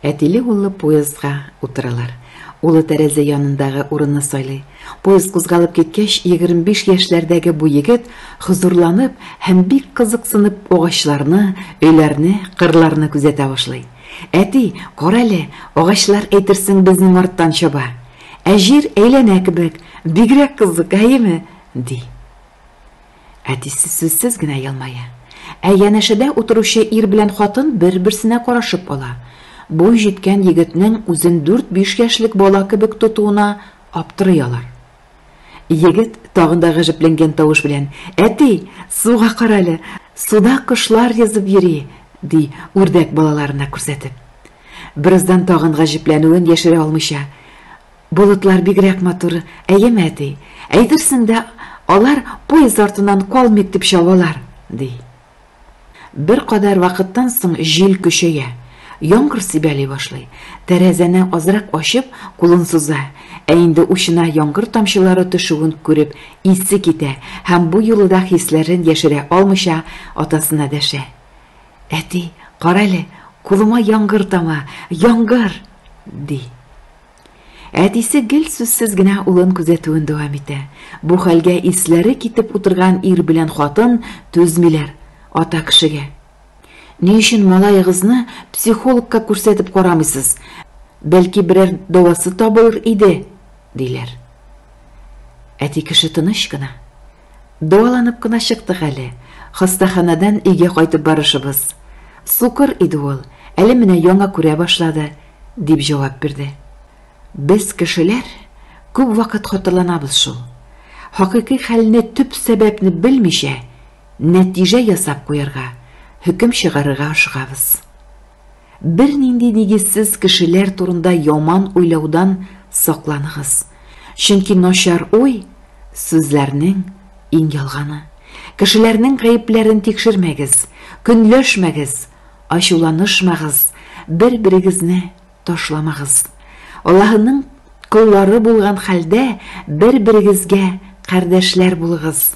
Әтиле-уллы поездга утыралар. Улы тәрәзә янындагы урынны сайлый. Поезд кузгалып киткәч, егерме биш яшьләрдәге бу егет хозурланып һәм бик кызыксынып агачларны, өйләрне, кырларны күзәтә башлый. Әти, карале, агачлар әйтерсең безнең арттан чаба. Ә җир әйләнә кебек, бигрәк кызык, әйеме? ди. Әтисе сүзсез генә елмая. Ә янәшәдә утыручы ир белән хатын бер-берсенә карашып ала. Буй җиткән егетнең үзен дүрт-биш яшьлек бала кебек тотуына аптырый алар. Егет тагын да гаҗәпләнгән тавыш белән, Әти, суга карале, суда кошлар йөзеп йөри, ди, үрдәк балаларына күрсәтеп. Бераздан тагын гаҗәпләнүен яшерә алмыйча, Болытлар бигрәк матур, әйеме, әти? Әйтерсең дә, алар поезд артыннан калмыйк дип чабалар, ди. Беркадәр вакыттан соң җил көчәя. Яңгыр сибәли башлый. Тәрәзәне азрак ачып, кулын суза. Ә инде учына яңгыр тамчылары төшүен күреп, исе китә һәм бу юлы да хисләрен яшерә алмыйча, атасына дәшә. Әти, карале, кулыма яңгыр тама, яңгыр! ди. Әтисе гел сүзсез генә улын күзәтүен дәвам итә. Бу хәлгә исләре китеп утырган ир белән хатын түзмиләр. Ата кешегә. Ни өчен малаегызны психологка күрсәтеп карамыйсыз? Бәлки берәр дәвасы табылыр иде, диләр. Әти кеше тыныч кына. Дәваланып кына чыктык әле. Хастаханәдән өйгә кайтып барышыбыз. Сукыр иде ул, әле менә яңа күрә башлады, дип җавап бирде. Без, кешеләр, күп вакыт хаталанабыз шул. Хакыйкый хәлне, төп сәбәпне белмичә, нәтиҗә ясап куярга, хөкем чыгарырга ашыгабыз. Бернинди нигезсез кешеләр турында яман уйлаудан сакланыгыз, чөнки начар уй, сүзләрнең иң ялганы. Кешеләрнең гаепләрен тикшермәгез, көнләшмәгез, ачуланышмагыз, бер-берегезне ташламагыз. Аллаһының коллары булган хәлдә, бер-берегезгә кардәшләр булыгыз.